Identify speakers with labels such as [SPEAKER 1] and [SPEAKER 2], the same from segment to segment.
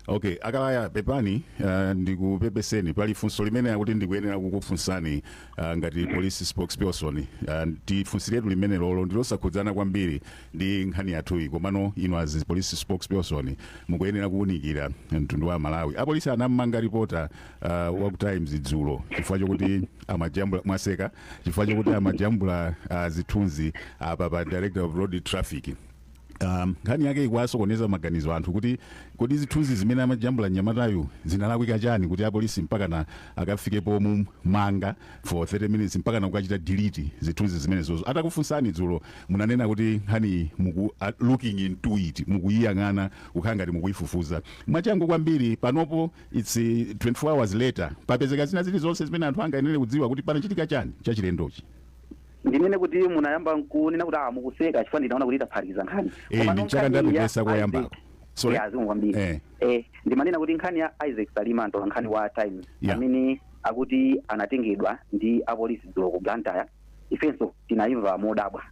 [SPEAKER 1] okay a Kalaya pepani uh, ndikupepeseni pali funso limene akuti ndikuyenera kukufunsani uh, ngati police spokesperson uh, tifunsiretu limenelolo ndilosakhudzana kwambiri ndi nkhani yathuyi komano inu as police spokesperson mukuyenera kuwunikira mtundu wa amalawi apolisi anammanga ripota uh, wa ku times dzulo chifukwa chokuti amajambula mwaseka chifukwa chokuti amajambula uh, zithunzi apa pa director of road traffic Um, nkhani yake ikuwasokoneza maganizo anthu kuti kodi zithunzi zimene amajambula mnyamatayu zinalakwika chani kuti apolisi mpakana akafike pomumanga for 30 minutes mpakana kukachita delete zithunzi zimenezozo atakufunsani dzulo munanena kuti nkhani muku uh, looking into it mukuyiyang'ana kukhala ngati mukuyifufuza mwachangu kwambiri panopo its uh, 24 hours later papezeka zina zilizonse zimene anthu angayenere kudziwa kuti panachitika chani chachilendochi
[SPEAKER 2] ndinene kuti munayamba nkunena kuti ah, mukuseka chifukwa ndinaona kuti mwaphatikiza nkhani Eh, Komano ndi chaka nkhani ya
[SPEAKER 1] ndapepesa Isaac- koyambako. Sorry? Yeah, zikomo
[SPEAKER 2] kwambiri Eh. eh, ndimanena kuti nkhani ya isaac salima mtolankhani wa times Yeah. amene akuti anatengedwa ndi apolisi dzulo ku blantyre ifenso tinayimva modabwa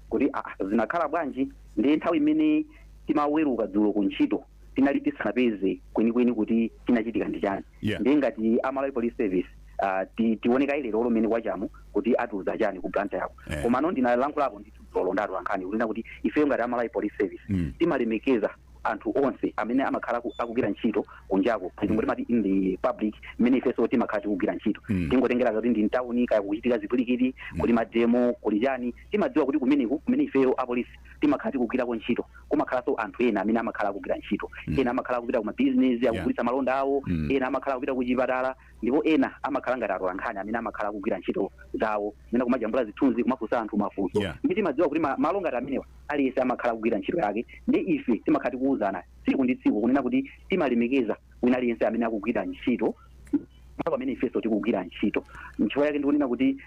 [SPEAKER 2] kuti ah, zinakhala bwanji ndiye nthawi imene timaweruka dzulo ku ntchito tinali tisanapeze kwenikweni kuti chinachitika ndi chani Yeah. ndiye ngati a malawi police service ah, ti- tione kaye lerolo mmene kwachamu kuti atiuza chani ku blantyre-ko Eh. komano ndinalankhulapo ndi dzulolo ndi atolankhani kunena kuti ifeyo ngati a malawi police service Mm. timalemekeza anthu onse amene amakhala aku- akugwira ntchito kunjako chimwe timati in the public mmene ifenso timakhala tikugwira ntchito Mm. tingotengera kuti ndi m'tawuni kaya kuchitika chipwirikiti kuli mademo kuli chani timadziwa kuti kumeneku kumene ifeyo apolisi timakhala tikugwirako ntchito kumakhalanso anthu ena amene amakhala akugwira ntchito mm. ena amakhala akupita ku mabizinesi akugulitsa malonda awo mm. ena amakhala akupita ku chipatala ndipo ena amakhala ngati atolankhani amene amakhala akugwira ntchito zawo kunena kumajambula zithunzi kumafunsa anthu mafunso yeah. ndiye timadziwa kuti malo ngati amenewa aliyense amakhala akugwira ntchito yake ndiye ife timakhala tikuwuzana tsiku ndi tsiku kunena kuti timalemekeza wina aliyense amene akugwira ntchito ndipo pamene ifenso tikugwira ntchito nchifukwa chake ndikunena kuti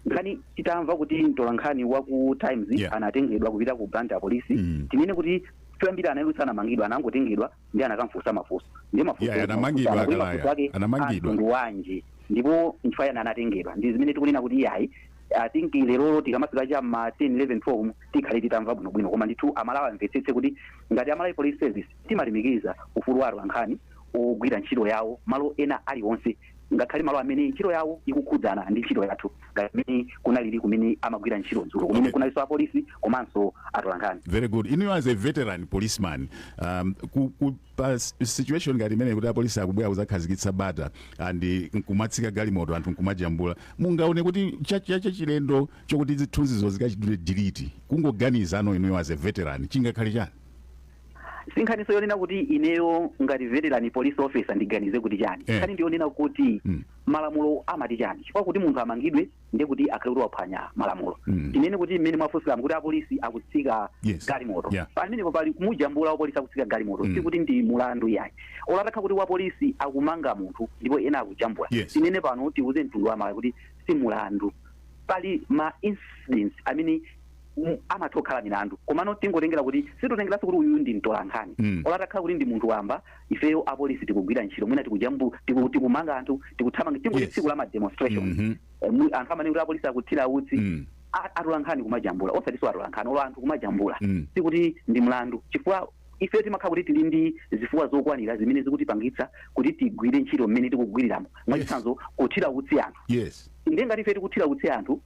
[SPEAKER 2] nkhani titamva kuti mtolankhani wa ku times Yeah. anatengedwa kupita ku blantyre police Mm. tinene kuti choyambira anali sanamangidwa anangotengedwa ndiye anakamfunsa mafunso ndi mafunso Yeah, mafunso anamangidwa anatu a Kalaya. mafunso ake Anamangidwa. amtundu wanji ndipo nchifukwa chani anatengedwa ndi zimene tikunena kuti iyayi i think lerolo tikamafika cha ma 10 11 12 tikhale titamva bwinobwino koma ndithu amalawi amvetsetse kuti ngati amalawi police service Timalemekeza ufulu wa atolankhani ogwira ntchito yawo malo ena aliwonse ngakhale malo amene ntchito yawo ikukhudzana ndi ntchito yathu ngati mmene kunalili kumene amagwira ntchito dzulo kumene Okay. kunalinso apolisi komanso atolankhani. Very good. Inuyo as a
[SPEAKER 1] veteran policeman, um, ku, ku, pa s- situation ngati imeneyi kuti apolisi akubwera kuzakhazikitsa bata and eh, nkumatsika galimoto anthu nkumajambula. Mungaone kuti cha- cha- chachilendo chokuti zithunzizo zikachitidwe delete. Kungoganiza inuyo as a veteran chingakhale chani?
[SPEAKER 2] si nkhaniso yonena kuti ineyo ngati veteran police officer ndiganize kuti chani Eh. nkhani ndiyonena kuti Mm. malamulo amati chani chifukwa kuti munthu amangidwe ndiye kuti akhale kuti waphwanya malamulo Mm. tinene kuti mmene mwafunsiramo kuti apolisi akutsika Yes. galimoto Yeah. pamenepo pali kumujambula wapolisi akutsika galimoto Mm. sikuti ndi mulandu yayi olo atakha kuti wapolisi akumanga munthu ndipo ena akujambula Yes. tinene pano tiuze mtundu wa malawi kuti si mulandu pali ma incidents amene amatha kukhala milandu komano tingotengera kuti sitotengeranso kuti uyuyu ndi mtolankhani Mm. olo atakhala kuti ndi munthu wamba ifeyo apolisi tikugwira ntchito mwina tikujambu tiku- tikumanga anthu tikuthamanga tingoti Yes. tsiku la ma demonstration Mhm. Eh, mu- anthu amane kuti apolisi akuthira utsi Mm. a- atolankhani kumajambula osatiso atolankhani olo anthu kumajambula Mm. sikuti ndi mlandu chifukwa ife timakhala kuti tili ndi zifukwa zokwanira zimene zikutipangitsa kuti tigwire ntchito mmene tikugwiriramo mwachitsanzo kuthira utsi anthu yes nde ngati ife tikuthira utsi anthu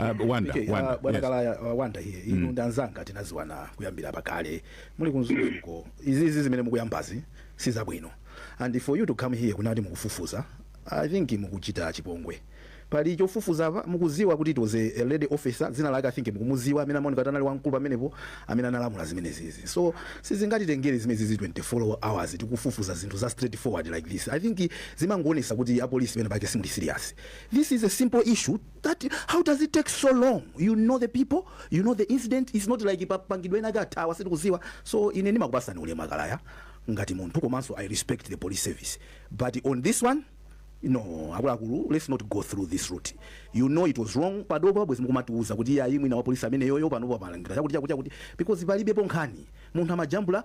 [SPEAKER 1] Ah, Wanda, Okay, Wanda, ah, bwana yes. kalaya
[SPEAKER 3] ah, wanda here inu ndi anzanga tinaziwana kuyambira pakale muli ku mzuzu izizi zimene mukuyambazi si zabwino and for you to come here kunena kuti mukufufuza i think mukuchita chipongwe pali chofufuza apa mukuziwa kuti it was a, a lady officer dzina lake i think mukumuziwa amene amaoneka kuti anali wamkulu pamenepo amene analamula zimenezizi so sizingatitengere zimenezizi 24 hours tikufufuza zinthu za straight forward like this i think zimangoonesa kuti apolisi pene pake simuli serious this is a simple issue that how does it take so long you know the people you know the incident is not like a- apanga dwe ena akathawa sitikuziwa so ine ndimakupasani ulemu akalaya ngati munthu komanso i respect the police service but on this one no akuluakulu let's not go through this route you know it was wrong panopa bwezi mukumatiuza kuti ayi mwina wapolisi ameneyoyo panopo amalangika chakuti chakuti chakuti because palibepo nkhani munthu amajambula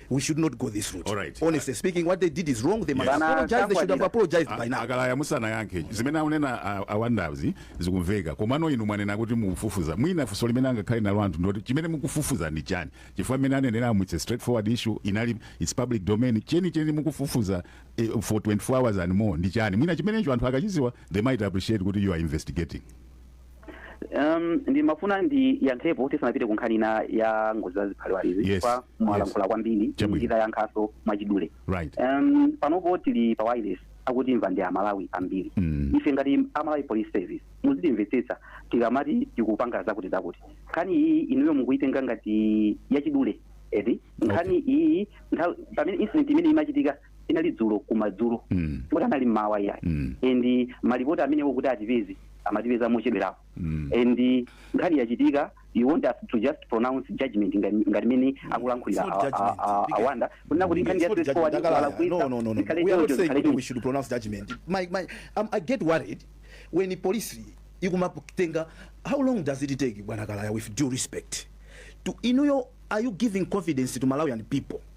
[SPEAKER 3] we should not go this route Alright. honestly
[SPEAKER 1] speaking
[SPEAKER 3] what
[SPEAKER 1] they
[SPEAKER 3] did is wrong they must Yes. apologize they should have Bana, apologized by A- now akalaya
[SPEAKER 1] musanayankhe zimene akunena a- awandazi zikumveka komano inu mwanena kuti mukufufuza mwina funso limene angakhale nalo anthu ndoti chimene mukufufuza ndi chani chifukwa mmene aneneramu its a straightforward issue its public domain chenicheni mukufufuza eh, for 24 hours and more ndi chani mwina chimenecho anthu akachiziwa they might appreciate kuti you are investigating
[SPEAKER 2] Um, ndimafuna ndiyankhepo tisanapite ku nkhani ina ya ngozi za ziphaliwalizi Yes, koma mwalankhula kwambiri Chabwino. nditayankhaso mwachidule right um,
[SPEAKER 1] panopo tili
[SPEAKER 2] pa wireless akutimva ndi amalawi ambiri Mm. ife ngati amalawi police service muzitimvetsetsa tikamati tikupanga zakuti zakuti nkhani iyi inuyo mukuyitenga ngati yachidule eti nkhani iyi nthawi- pamene incident imene imachitika inali dzulo kumadzulo Mm. kuti anali mmawa iyayi Mm. and malipoti amenewo kuti atipeze amatipeza mochedwerapo Mm. and nkhani yachitika you want us to just pronounce judgment ngati ngati mene akulankhulira It's not a- a- judgment. a- Because- awanda kunena kuti It's nkhani not judgment. ya straightforward Dakala, no, no,
[SPEAKER 3] no, no. We are not saying that we should pronounce judgment. My, my, um, I get worried when the police ikumatenga how long does it take bwana kalaya with due respect to inuyo are you giving confidence to malawian people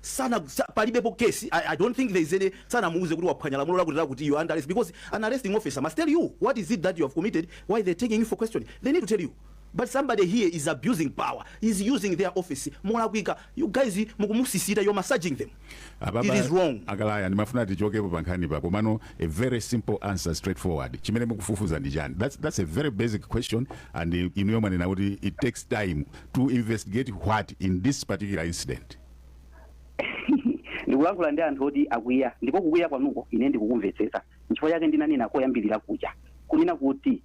[SPEAKER 3] sana sa, palibepo case I, I don't think there is any sanamuuze kuti waphwanya lamulo lakuti lakuti you are under arrest because an arresting officer must tell you what is it that you have committed why they're taking you for questioning they need to tell you but somebody here is abusing power is using their office molakwika you guys mukumusisita you're massaging them it is wrong akalaya ndimafuna tichokepo
[SPEAKER 1] pa nkhani pa komano a very simple answer straightforward chimene mukufufuza ndi chani that's, that's a very basic question and inuyo mwanena kuti it takes time To investigate what in this particular incident?
[SPEAKER 2] Ndikulankhula ndi anthu oti akwiya ndipo kukwiya kwanuko ine ndikukumvetsetsa. Nchifukwa chake ndinanena koyambirira kuja kunena kuti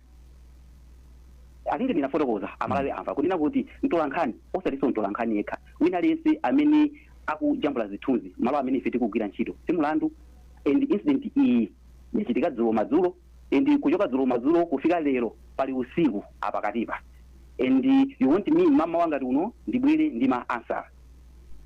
[SPEAKER 2] I think ndinafotokoza Amalawi amva kunena kuti mtolankhani osatinso mtolankhani yekha wina aliyense amene akujambula zithunzi malo amene ife tikugwira ntchito si mlandu and incident iyi yachitika dzulo madzulo and kuchoka dzulo madzulo kufika lero pali usiku apakatipa and you want me mmamawa ngati uno ndibwere ndi ma answer?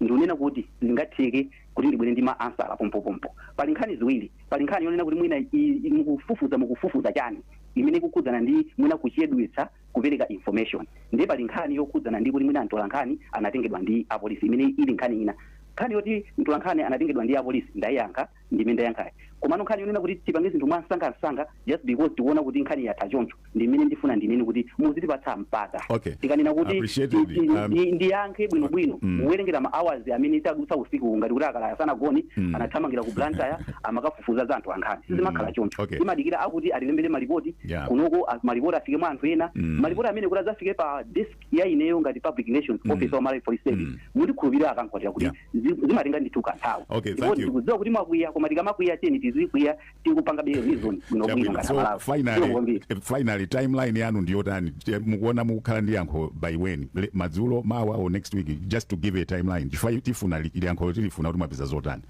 [SPEAKER 2] Ndikunena kuti sizingatheke kuti ndibwere ndi ma answer pompopompo. Pali nkhani ziwiri, pali nkhani yonena kuti mwina i, mukufufuza mukufufuza chani imene ikukhudzana ndi mwina kuchedwetsa kupereka information ndiye pali nkhani yokhudzana ndi kuti mwina mtolankhani anatengedwa ndi apolisi imene ili nkhani ina. Nkhani yoti mtolankhani anatengedwa ndi apolisi ndayiyankha ndimene ndayankhayi. Komano nkhani yonena kuti tipange zinthu mwansangansanga just because tikuona kuti nkhani yatha choncho ndimene ndifuna ndinene kuti muzitipatsa mpata. Okay. Tikanena kuti Appreciated. ti- ti- Um, ndi- ndiyankhe bwinobwino Mm. muwerengera ma hours amene tadutsa usiku ngati kuti a Kalaya sanagone Mm. anathamangira ku Blantyre amakafufuza za atolankhani sizimakhala Mm. choncho Okay. timadikira akuti atilembere malipoti Yeah. kunoko a- malipoti afike mwa anthu ena Mm. malipoti amene kuti adzafike pa desk ya ineyo ngati public relations Mm. officer wa Malawi Police Service Mm. mundikhulupirire a Kankwatira kuti Yeah. zi- zimatenga ndithu kanthawi Okay, Ndipo thank you. ndikudziwa kuti mwakwiya koma tikamakwiya tiyeni tizikwiya tikupangabe reason bwino bwino ngati so amalawi Zikomo finally, kwambiri. eh, finally
[SPEAKER 1] timeline yanu ndiyotani Eh, mukuona mukukhala ndi yankho by when Le- madzulo mawa or next week just to give a timeline chifukwa tifuna li- liyankho tilifuna kuti mwapeza zotani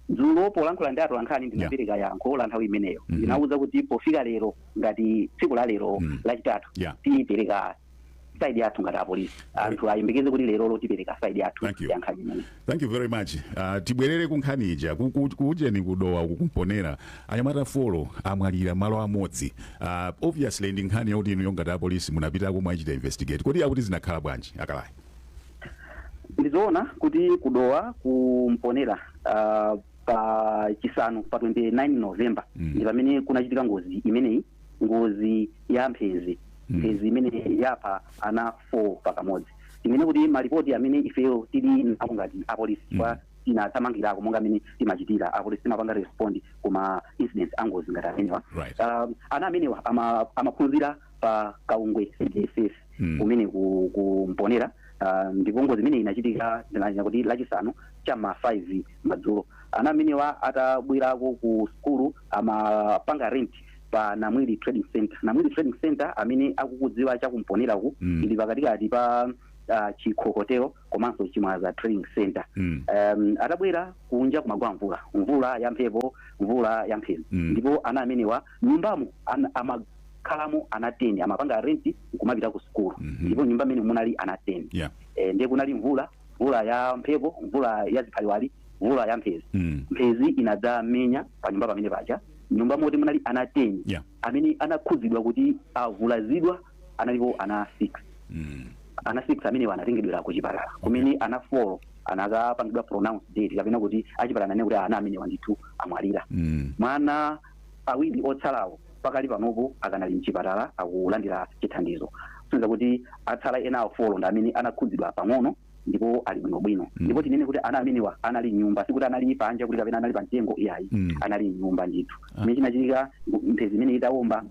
[SPEAKER 1] dzulo
[SPEAKER 2] polankhula ndi atolankhani ndinapereka yankho la nthawi imeneyo ndinawauza kuti pofika lero ngati tsiku la lero lachitatu Yeah. tipereka side yathu ngati apolisi anthu ayembekeze kuti lerolo tipereka side yathu Thank you. ya nkhani imeneyi thank you very
[SPEAKER 1] much uh, tibwerere ku nkhani ija Ku- ku- kuujeni ku Dowa uku ku Mponela anyamata folo amwalira malo amodzi uh, obviously ndi nkhani yakuti inuyo ngati apolisi munapitako mwachita investigate kodi akuti zinakhala bwanji a
[SPEAKER 2] Kalaya ndizoona kuti ku Dowa ku Mponela uh, pa chisanu pa 29 november Mm. ndi pamene kunachitika ngozi imeneyi ngozi ya mphenzi mphenzi imene yapha ana 4 pakamodzi tinene kuti malipoti amene ifeyo tili nawo ngati apolisi chifukwa tinathamangirako monga amene timachitira apolisi timapanga respond kuma incident angozi ngati amenewa Right. um, ana amenewa ama- amaphunzira pa kaungwe cdss Mm. kumene ku, ku Mponela ah, ndipo ngozi imene inachitika tinanena kuti lachisanu cha ma 5 madzulo ana amenewa atabwerako ku skulu amapanga rent pa namwili trading center namwili trading center amene akukudziwa cha ku Mponelaku Mm. ili pakatikati pa ah, chikho hotel komanso chimwaza trading center Mm. um, atabwera kunja kumagwa mvula mvula ya mphepo mvula ya mphenzi Mm. ndipo ana amenewa nyumbamo ana, amakhalamo ana 10 amapanga rent nkumapita ku sukulu Mhm. ndipo nyumba imene munali ana 10 yeah eh, ndiye kunali mvula mvula ya mphepo mvula ya ziphaliwali mvula ya mphezi mm. mphezi inadzamenya pa nyumba pamene paja nyumba moti munali ana 10 yeah amene anakhudzidwa kuti avulazidwa analipo ana 6 mm. ana 6 amenewa anatengedwera ku chipatala kumene ana 4 anakapangidwa pronounced dead kapena kuti achipatala ananena kuti ana amenewa ndithu amwalira mm. mwana Awiri otsalawo pakali panopo akanali m'chipatala akulandira chithandizo, kusonyeza kuti atsala enawo folo ndi amene anakhudzidwa pang'ono ndipo ali bwinobwino. Ndipo tinene kuti ana amenewa anali m'nyumba, sikuti anali panja kuti kapena anali pamtengo iyayi, anali m'nyumba ndithu. Chimene chinachitika, mphezi imeneyi itawomba,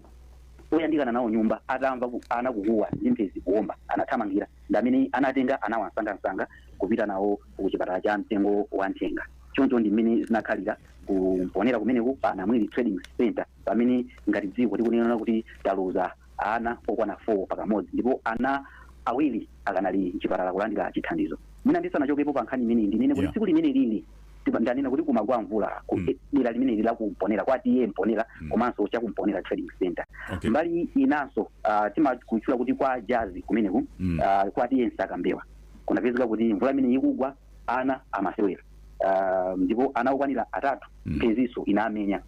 [SPEAKER 2] oyandikana nawo nyumba atamva ana kukuwa ndi mphezi kuwomba, anathamangira ndi amene anatenga anawa msangamsanga kupita nawo kuchipatala cha Mtengo wa Nthenga. Choncho ndi mmene zinakhalira. Ku Mponera kumeneku pa Namwili Trading Centre pamene ngati dziko tikunena kuti taluza ana okwana 4 pakamodzi ndipo ana awiri akanali mchipatala kulandira chithandizo. Mwina ndisanachokepo pa nkhani imeneyi ndinene kuti Yeah. tsiku limeneli ndanena kuti kumagwa mvula ku Mm. dera limeneli la ku Mponera kwa TA Mponera Mm. komanso cha ku Mponera Trading Centre. Okay. Mbali inanso uh, timakutchula kuti kwa jazi kumeneku Mm. uh, kwa TA Msakambewa kunapezeka kuti mvula imene ikugwa ana amasewera uh, ndipo ana okwanira atatu Mm. mphezinso inamenya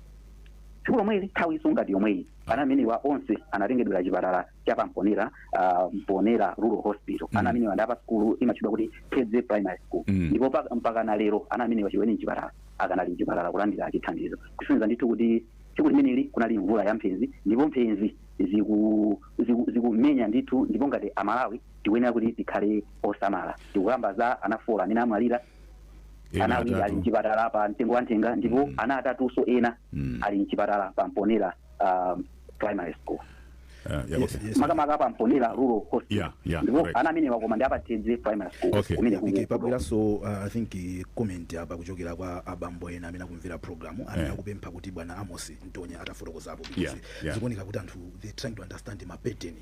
[SPEAKER 2] tsiku lomweli nthawinso ngati yomweyi ana amenewa onse anatengedwera chipatala cha pamponera uh, mponera rural hospital Mm. ana amenewa ndi apa sukulu imatchedwa kuti Kedze primary school Mm. ndipo pa- mpaka na lero ana amenewa chiweni mchipatala akanali mchipatala kulandira chithandizo kusonyeza ndithu kuti tsiku limeneli kunali mvula ya mphezi ndipo mphezi ziku- ziku- zikumenya ndithu ndipo ngati amalawi tikuyenera kuti tikhale osamala tikukamba za ana folo amene amwalira Ena ana awiri ali atatu. mchipatala pa mtengo wa nthenga ndipo ana atatunso ena ali mchipatala pa mponera um, primary school Uh, yeah, Yes, okay. yes. makamaka pa mponera rural hospital Yeah, yeah, ndipo correct. ana amenewa koma ndi apa Kedze primary school Okay. kumene I think kuku- pabweranso
[SPEAKER 3] uh, i think eh, comment apa kuchokera kwa abambo ena amene akumvera programu imeneyi Eh. akupempha kuti bwana Amos Mtonya atafotokozapo because Yeah, yeah. zikuoneka kuti anthu they trying to understand mapeteni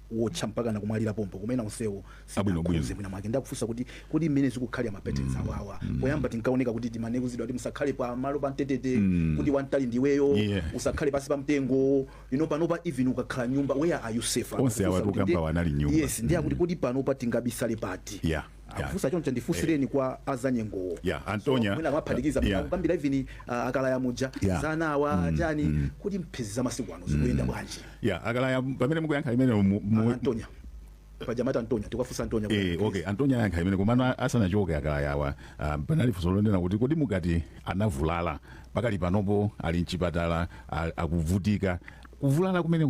[SPEAKER 3] wotcha mpakana kumwalira pompo koma ena onsewo Abwino bwino. sinakhudze mwinamwake ndakufunsa kuti kodi mmene zikukhalira ma patterns awawa poyamba tinkaoneka kuti timane kuuzidwa kuti musakhale pa malo pa mtetete kuti wamtali ndiweyo Yeah. usakhale pansi pa mtengo ino panopa even ukakhala mnyumba where are you safe Onse Akufunsa awatu kuti ndi- tukambawa
[SPEAKER 1] anali mnyumba. yes ndiye akuti kodi panopa
[SPEAKER 3] tingabisale pati Yeah. akufunsa choncho ndifunsirani eh. kwa azanyengowo yeah, antonia so,
[SPEAKER 1] mwina amaphatikiza
[SPEAKER 3] yeah. kukambira even uh, akalaya muja yeah. zanawa mm, chani mm. kuti mphezi za masiku ano zikuyenda mm. bwanji yeah, akalaya pamene
[SPEAKER 1] mukuyankha imene ah, antonia
[SPEAKER 3] pajamata antonya tikafunsa antonya eh okay antonya
[SPEAKER 1] yankha imene komano asanachoke akalayawa um, ah, panali funso lonena kuti kodi mukamati anavulala pakali panopo ali mchipatala akuvutika kuvulala kumene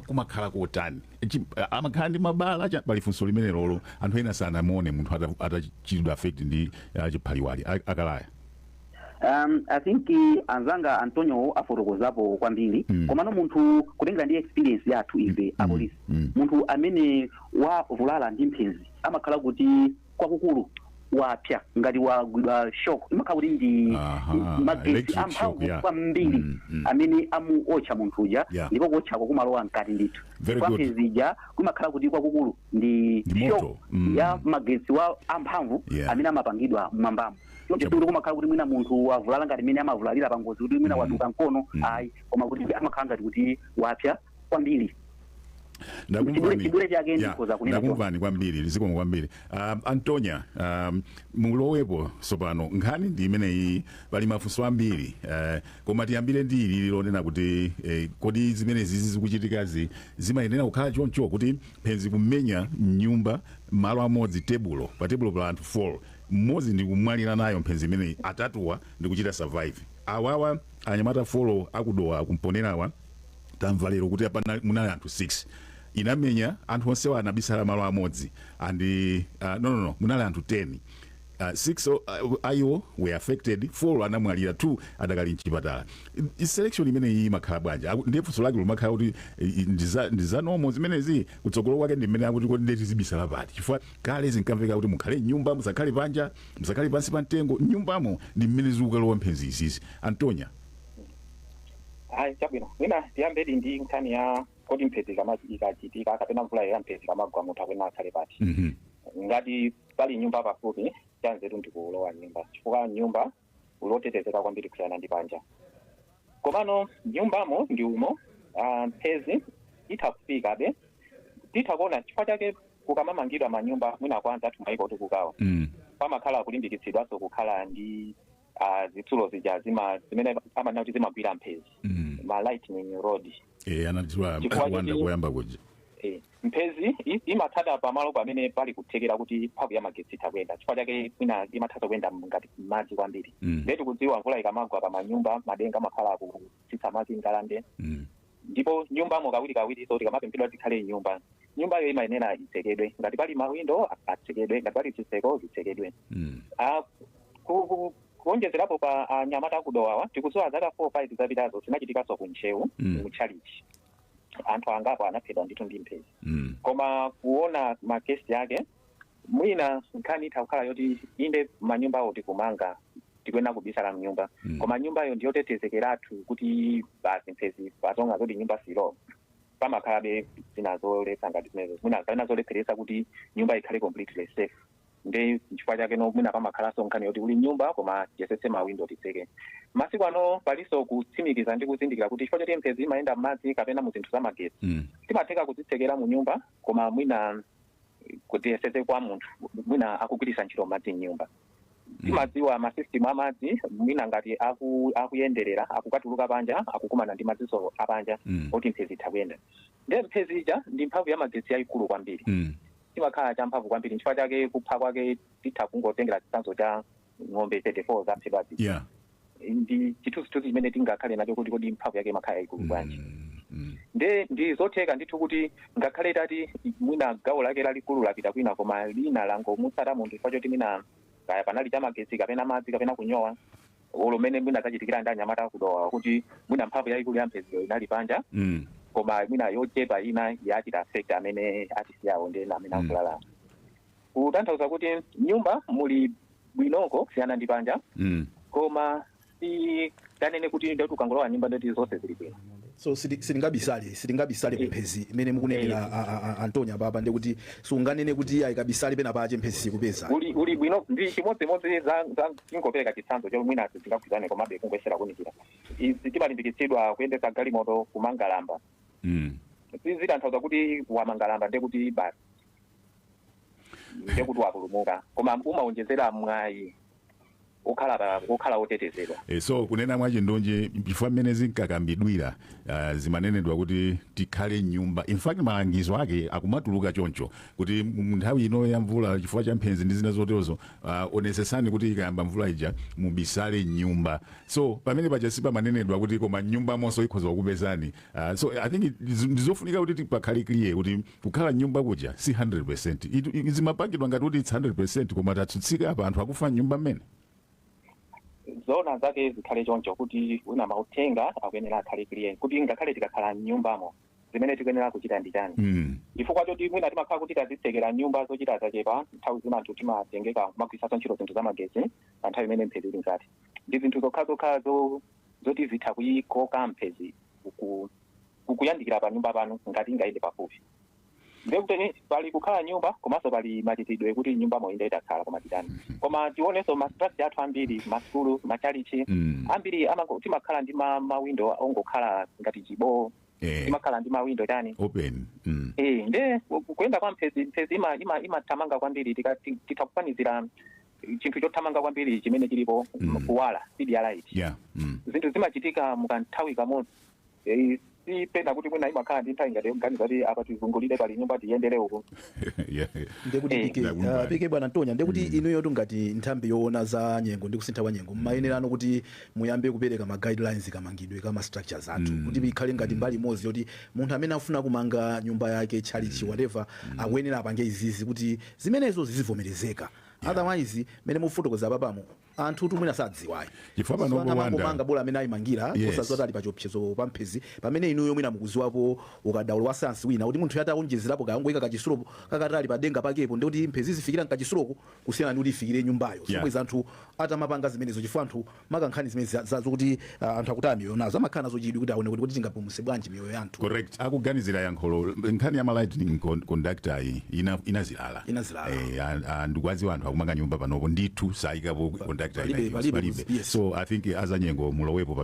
[SPEAKER 1] kumakhala kotani chi- a- amakhala ndi mabala cha- pali funso limenelolo anthu ena sanamuone munthu ata- atachitidwa affect ndi ah, chiphaliwali A- akalaya
[SPEAKER 2] um, i think eh, anzanga antonio afotokozapo kwambiri Mm. komano munthu kutengera ndi experience yathu ife apolisi Mm. munthu amene wavulala ndi mphezi amakhala kuti kwakukulu wapya ngati wagwidwa shock imakhala kuti ndi Aha, ndi magetsi electric shock, amphamvu yeah. kwambiri Mm, mm. amene amuotcha munthu uja Yeah. ndipo kuotchako kumalowa mkati ndithu Very kwa good. mphezi ija kumakhala kuti kwakukulu ndi Ndi shock moto. Mm. ya magetsi wa amphamvu Yeah. amene amapangidwa mmwambamo Choncho Chabu- sikuti kumakhala kuti mwina munthu wavulala ngati mmene amavulalira pangozi kuti mwina waduka mkono ayi koma kuti amakhala ngati kuti wapya kwambiri ndakumvani
[SPEAKER 1] chidule chake Yeah, ndikhoza kunena choncho. ndakumvani kwambiri zikomo kwambiri um, antonia um, mulowepo tsopano nkhani ndi imeneyi pali mafunso ambiri uh, koma tiyambire ndi ili lonena kuti eh, kodi zimenezi zizi zikuchitikazi zimayenera kukhala choncho kuti mphenzi kumenya mnyumba malo amodzi tebulo pa tebulo pa anthu 4 mmodzi ndikumwalira nayo mphenzi imeneyi atatuwa ndikuchita survive awawa anyamata folo aku Dowa aku Mponela-wa tamva lero kuti apa na- munali anthu 6 inamenya anthu onsewa anabisala malo amodzi and uh, no, no, no munali anthu 10 Uh, six o- uh, a iwo were affected four anamwalira two adakali mchipatala I- i- selection imeneyi imakhala bwanji Aku- ndiye funso lake limakhala kuti i- i- ndiza- ndi za normal zimenezi kutsogolo kwake ndi mmene akuti kodi nde tizibisala pati chifukwa kale zinkamveka kuti mukhale mnyumba musakhale panja musakhale pansi pa mtengo mnyumbamo ndi mmene zikukalowa mphenzi izizi antonya
[SPEAKER 4] ayi chabwino mwina tiyambedi ndi nkhani ya kodi mphezi ikama- ikachitika kapena mvula ya mphezi ikamagwa munthu akuyenera akhale pati Mhm. ngati pali nyumba pafupi chanzeru ndikulowa mnyumba chifukwa mnyumba ndi motetezeka kwambiri kusiyana ndi panja komano mnyumbamo ndi umo ah, mphezi itha kufikabe titha kuona chifukwa chake kukamamangidwa manyumba mwina kwa anzathu maiko otukukawa Mm. pamakhala kulimbikitsidwanso kukhala ndi ah, zitsulo zija zima zimene amanena kuti zimagwira mphezi Mm. ma lightning rod Eh, anatchula Chifukwa
[SPEAKER 1] a Kuwanda choti- koyamba kuja Eh, mphezi
[SPEAKER 4] i- imatsata pamalo pamene pali kuthekera kuti mphamvu ya magetsi itha kuyenda chifukwa chake mwina imatha kuyenda ngati mmadzi kwambiri Mm. ndiye tikudziwa mvula ikamagwa pa manyumba madenga amakhala aku- tsitsa madzi ngalande Mm. ndipo nyumbamo kawirikawiriso tikamapemphedwa tikhale mnyumba nyumbayo imayenera itsekedwe ngati pali mawindo atsekedwe ngati pali zitseko zitsekedwe Mm. Ah, ku- ku- kuonjezerapo pa anyamata aku Dowawa tikudziwa zaka 4 5 zapitazo zinachitikanso ku Ntcheu Mm. mu tchalitchi anthu angapo anaphedwa ndithu ndi mphezi Mm. koma kuona makesi ake mwina nkhani itha kukhala yoti inde manyumbawo tikumanga tikuyenera kubisala mnyumba Mm. koma nyumbayo ndiyotetezekeratu kuti basi mphezi patonga zoti nyumba silo pamakhalabe zina zoletsa ngati zimenezo mwina kapena zolepheretsa kuti nyumba ikhale completely safe ndi chifukwa chake no mwina pamakhalanso nkhani yoti uli mnyumba koma tiyesetse mawindo titseke masiku ano palinso kutsimikiza ndi kuzindikira kuti chifukwa choti mphezi imayenda m'madzi kapena mu zinthu zamagetsi Mm. zimatheka kuzitsekera mu nyumba koma mwina kuti yeseze kwa munthu mwina akugwiritsa ntchito madzi mnyumba timadziwa masystem amadzi mwina ngati aku, akuyenderera akukatuluka panja akukumana ndi madziso apanja Mm. oti mphezi itha kuyenda nde mphezi ija ndi mphamvu ya magetsi yayikulu kwambiri Mm. chimakhala champhamvu kwambiri nchifukwa chake kupha kwake titha kungotengera chitsanzo cha ng'ombe 34 zaphedwazi yeah ndi chithunzithunzi chimene tingakhale nacho kuti kodi mphamvu yake imakhala yaikulu bwanji nde ndi zotheka ndithu kuti ngakhale tati mwina gawo lake lalikulu lapita kwina koma lina langomutsata munthu chifukwa choti mwina kaya panali chamagetsi kapena madzi kapena kunyowa olo mmene mwina zachitikira ndi anyamata aku Dowa kuti mwina mphamvu yaikulu ya mpheziyo inali panja mm. koma mwina yochepa ina yachita affect amene atisiyawo ndi ena amene avulala Kutanthauza kuti mnyumba muli bwinoko kusiyana ndi panja mm. koma sitinganene kuti ndoti ukangolowa mnyumba ndoti zonse zili bwino so siti-
[SPEAKER 3] sitingabisale sitingabisale Eh. mphezi mmene mukunenera Eh. a- a- a- Antonya apapa ndekuti sunganene kuti ayi kabisale pena pache mphezi siikupeza uli uli bwino
[SPEAKER 4] ndi chimodzimodzi za za tingopereka chitsanzo chomwe mwina sizingagwirizane komabe kungoyesera kuunikira izi timalimbikitsidwa kuyendetsa galimoto kumanga lamba Mm. sizitanthauza kuti wamanga lamba ndekuti basi ndiye kuti wapulumuka koma umawonjezera mwayi okhala pa- okhala otetezedwa e, so kunena
[SPEAKER 1] mwachindunji chifukwa mmene zinkakambidwira uh, zimanenedwa kuti tikhale mnyumba in fact malangizo ake akumatuluka choncho kuti mu nthawi ino ya mvula chifukwa cha mphenzi ndi zina zoterozo uh, onesesani kuti ikayamba mvula ija mubisale mnyumba so pamenepaja sipamanenedwa kuti koma mnyumbamonso ikhoza kukupezani uh, so i think it- ndi zofunika kuti pakhale clear kuti Kukhala m'nyumba kuja si 100%. It, i- zimapangidwa ngati kuti it's 100% koma tatsutsika apa anthu akufa m'nyumba
[SPEAKER 4] mmene. zoona zake zikhale choncho kuti mwina mauthenga akuyenera akhale clear kuti ngakhale tikakhala m'nyumbamo zimene tikuyenera kuchita ndi chani Mm. chifukwa choti mwina timakhala kuti tadzitsekera m'nyumba zochita zachepa nthawi zina anthu timatengeka kumagwiritsanso ntchito zinthu zamagetsi pa nthawi imene mphezi ili mkati ndi zinthu zokhazokha zo- zoti zitha kuyikoka mphezi ku- kukuyandikira panyumba panu ngati ingayende pafupi ndiye kuti pali kukhala m'nyumba komanso pali machitidwe kuti m'nyumbamo inde takhala koma titani koma tionenso ma structure athu ambiri masukulu matchalitchi Mm. ambiri amango- timakhala ndi ma- mawindo ongokhala ngati chibowo Eh. timakhala ndi mawindo tani open
[SPEAKER 1] mm. Eh,
[SPEAKER 4] nde ku- kuyenda kwa mphezi mphezi ima- ima- imathamanga kwambiri tika- ti- titha kufanizira chinthu chothamanga kwambiri chimene chilipo Mm. kuwala speed ya light yeah mm. zinthu zimachitika mukanthawi kamodzi Eh, si pena kuti mwina imakhala ndi nthawi ngati yoganiza kuti apa tizungulire
[SPEAKER 3] pali nyumba tiyendere uku Yeah. ndekuti Eh, paja ndakumva. uh, paja bwana Mtonya ndekuti inuyotu ngati nthambi yoona za nyengo ndi kusintha kwa nyengo mmayenerano kuti muyambe kupereka ma guidelines kamangidwe ka ma structures athu kuti ikhale ngati mbali imodzi yoti munthu amene afuna kumanga nyumba yake tchalitchi whatever akuyenera apange izizi kuti zimenezo zizivomerezeka otherwise mmene mufotokoza papamo Anthutu mwina sadziwa ayi. Chifukwa pano Anthu uko
[SPEAKER 1] Rwanda. amangomanga bola mmene
[SPEAKER 3] ayimangira Yes. osadziwa kuti ali pa chiopsezo pa mphezi pamene inuyo mwina mukudziwapo ukadaulo wa sayansi wina kuti munthuyo ataonjezerapo kungoika kachitsulo kakatali pa denga pakepo ndekuti mphezi izifikira mkachitsuloko kusiyana ndi kuti ifikire nyumbayo Yeah. zomwe anthu atamapanga zimenezo chifukwa anthu makankhani zimene za- za- zokuti ah, anthu akutaya miyoyo nazo amakhala nazo chidwi kuti aone kuti kodi tingapulumutse bwanji miyoyo ya anthu correct akuganizira
[SPEAKER 1] yankho nkhani ya ma lightning con- conductor iyi ina- inazilala Inazilala. Eh, and- and ndikuwadziwa anthu akumanga nyumba panopo ndithu sayikapo conductor palibe, ina palibe, palibe yes. so i think azanyengo mulowepo pa